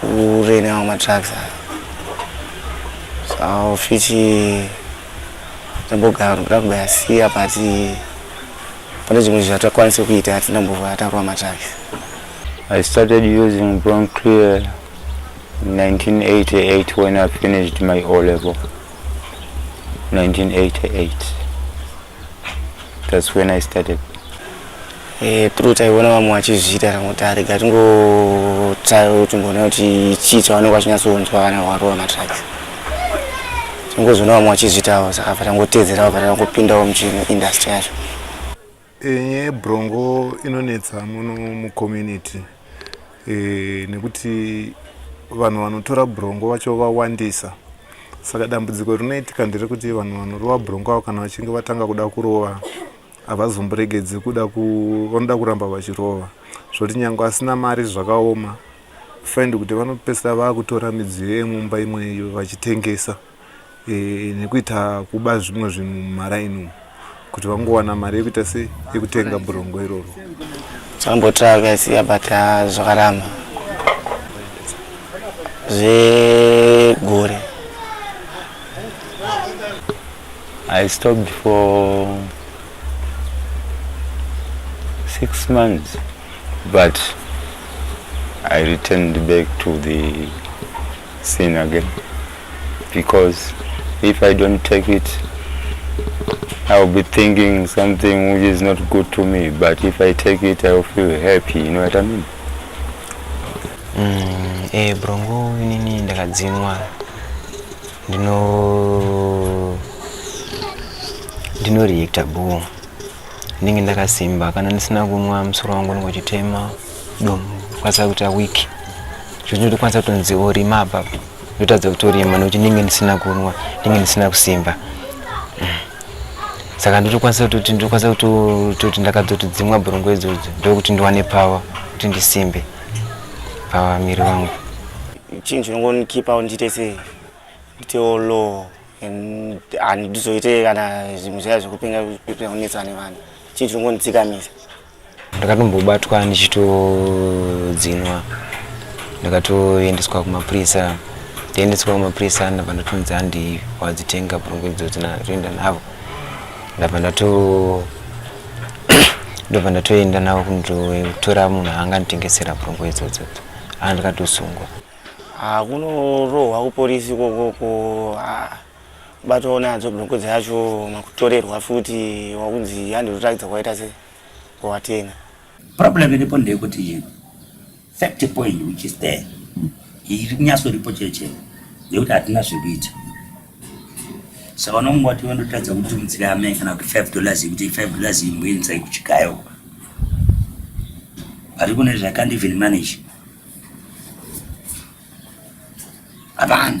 kurenewa matracks aya so fiti tambogara kuda kubayasiya but pane zvimwe zvatakwanise kuita hatina mbova atakurwa matracks i started using brown clear 1988 when i finished my o level 1988 That's when I started. Eh, through taiona vamwe vachizviita ramotari gatingotsaya timboona kuti chii chavanenge vachinyatsonzwa kana varova matraki tingozoona vamwe vachizviitawo saka fa tangotedzerawo fa tangopindawo muchino industry yacho enye brongo inonetsa muno mucommunity e, nekuti vanhu vanotora brongo vacho vawandisa saka dambudziko rinoitika nderekuti vanhu vanorova brongo avo kana vachinge vatanga kuda kurova havazomboregedzi kuda vanoda kuramba vachirova zvoti nyange asina mari zvakaoma find kuti vanopesira vakutora midziyo yemumba imweyo vachitengesa e, nekuita kuba zvimwe zvinhu mumaraini umu kuti vangowana mari yekuita se yekutenga burongo iroro zvambotira akaisiya but ah, zvakaramba zvegore i stopped for six months but i returned back to the sin again because if i don't take it i will be thinking something which is not good to me but if i take it i will feel happy you know what i mean mm, eh brongo nini ndakadzinwa ndino ndinoreacta boo ndinenge ndakasimba kana ndisina kunwa musoro wangu unenge uchitema ndokwanisa kuita week zvekuti ndotokwanisa kutonzi orima apa ndotadza kutorima nekuti ndinge ndisina kunwa ndinge ndisina kusimba saka ndotokwanisa kutoti ndotokwanisa kutoti ndakadzotodzimwa bhurungu idzodzo ndokuti ndiwane pawa kuti ndisimbe pawa miri wangu chinhu chinongonikipa ndiite se nditewo low handizoite kana zvinhu zvaya zvekupenga kunetsa nevanhu chinhu chinongonditsikamisa ndakatombobatwa ndichitodzinwa ndakatoendeswa kumapurisa taendeswa kumapurisa ndabva ndatonzi handi wadzitenga purungu idzodzi natoenda navo ndabva ndato ndobva ndatoenda navo kundotora munhu anga nditengesera purungu idzodzo aa ndikatosungwa ah, kunorohwa kupolisi kokoko ah. Kubatwawo nadzo broko dzacho makutorerwa futi wakunzi handi unotaridza kwaita se watenga. Problem iripo ndeyekuti fact point which is there iri kunyaso ripo chero chero yekuti hatina zvekuita saka unonge wati vandotaridza kuti mutsiri ame kana kuti five dollars yekuti five dollars imboendisai kuchikayo vari kune zvakandi even manage hapana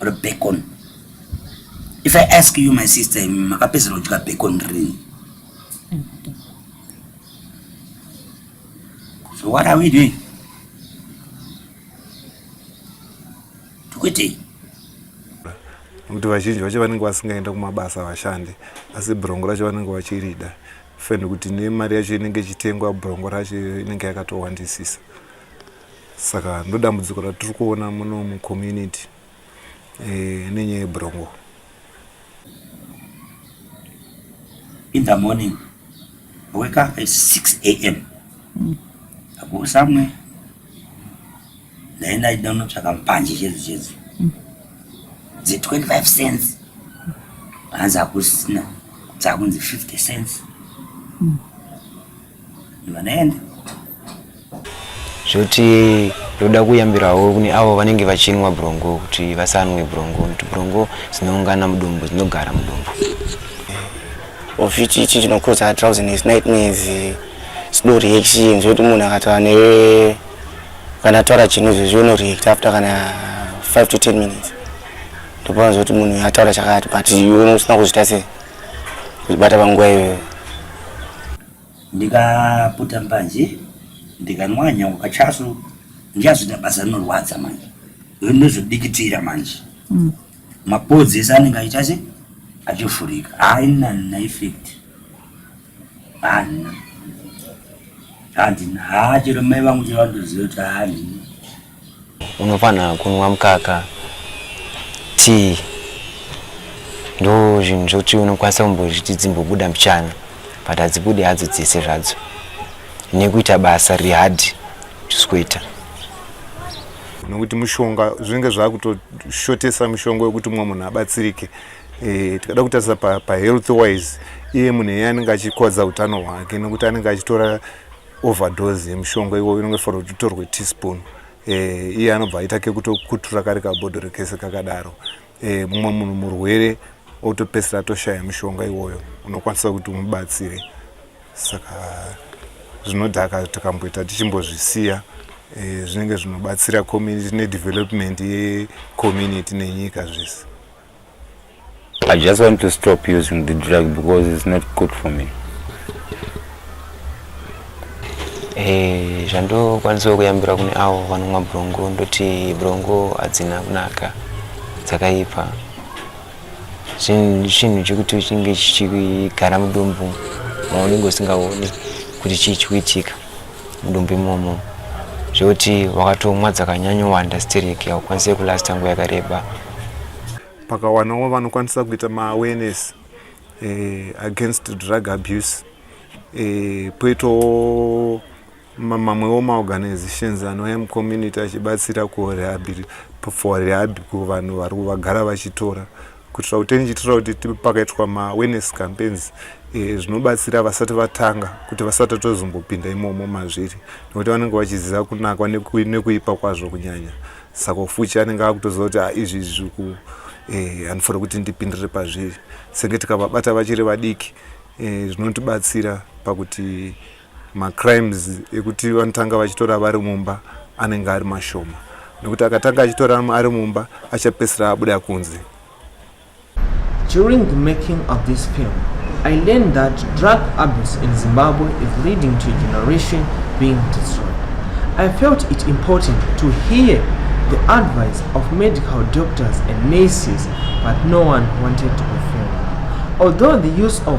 or bacon if i ask you my sister makapedzera kudya bacon rini so what are we doing tikuitei nekuti vazhinji vacho vanenge vasingaenda kumabasa vashandi asi brongo racho vanenge vachirida fani kuti nemari yacho inenge ichitengwa brongo racho inenge yakatowandisisa saka ndodambudziko ratiri kuona muno mucommunity eh, nenyaya yebrongo in the morning I wake up at 6 a.m. Mm. I go somewhere ndaenda ndinotsvaka mpanje chedu chedu mm. dze 25 cents hanzi hakusina dzakunzi 50 cents mm. vanoenda zvoti ndoda kuyambirawo kune avo vanenge vachinwa brongo kuti vasanwe brongo nekuti brongo dzinoungana mudumbu dzinogara mudumbu ofiti ichi chinokoza drowsiness nightmares slow reaction zvekuti munhu akataura newe kana ataura chinhu izvezvi unoreact after kana 5 to 10 minutes ndopaona zvekuti munhu ataura chakati but iwe usina kuzvita sei Kuzvibata panguva iyoyo. Ndikaputa mbanje ndikanwa nyangu kachasu ndichazvita basa rinorwadza manje. Ndinozodikitira manje. Mm. Mapodzi ese anenge aita se achivhurika. Haina na effect. Haina. Handina. Haa chero mai vangu chero vanotoziva kuti handina. unofanira kunwa mukaka tii ndo zvinhu zvokuti unokwanisa kumbozviti dzimbobuda mbichana but hadzibude hadzo dzese zvadzo nekuita basa rihadhi tisikuita nokuti mushonga zvinenge zvakutoshotesa mushonga wekuti mumwe munhu abatsirike e, tikada kutarisa pahealth pa wise iye munhu eye anenge achikwadza utano hwake nokuti anenge achitora overdose yemushonga iwoyo inenge fanira kuti utorwe teaspoon eh, iye anobva aita kekutokutura kari kabhodhoro kese kakadaro eh, mumwe munhu murwere otopesira atoshaya mushonga iwoyo unokwanisa kuti umubatsire saka zvinodhaka takamboita tichimbozvisiya eh, zvinenge zvinobatsira community nedevelopment yecommunity nenyika zvese I just want to stop using the drug because it's not good for me. Eh, zvandokwanisa kuyambira kune avo vanomwa brongo ndoti brongo hadzina kunaka dzakaipa chinhu chekuti chinge chichigara mudumbu maunenge usingaoni kuti chii chikuitika mudumbu imomo zvekuti wakatomwa dzakanyanyowanda stereki haukwanise kulasta nguva yakareba pakawanawo vanokwanisa kuita maawareness eh, against drug abuse eh, poitawo mamwewo maorganizations anouya mucommunity achibatsira for rehab kuvanhu vari vagara vachitora kuitira kuti ndichiitira kuti tipe pakaitwa maawareness campaigns eh, zvinobatsira e, vasati vatanga kuti vasati tozombopinda imomo mazviri nekuti vanenge vachiziva kunakwa nekuipa kwazvo kunyanya saka ufuchi anenge akutoziva kuti ah, izvi izvi zviku eh, handifanira kuti ndipindire pazviri senge tikavabata vachiri vadiki eh, zvinotibatsira pakuti macrimes ekuti vanotanga vachitora vari mumba anenge ari mashoma nekuti akatanga achitora ari mumba achapesera abuda kunze During the making of this film, I learned that drug abuse in Zimbabwe is leading to a generation being destroyed. I felt it important to hear the advice of medical doctors and nurses, but no one wanted to be filmed. Although the use of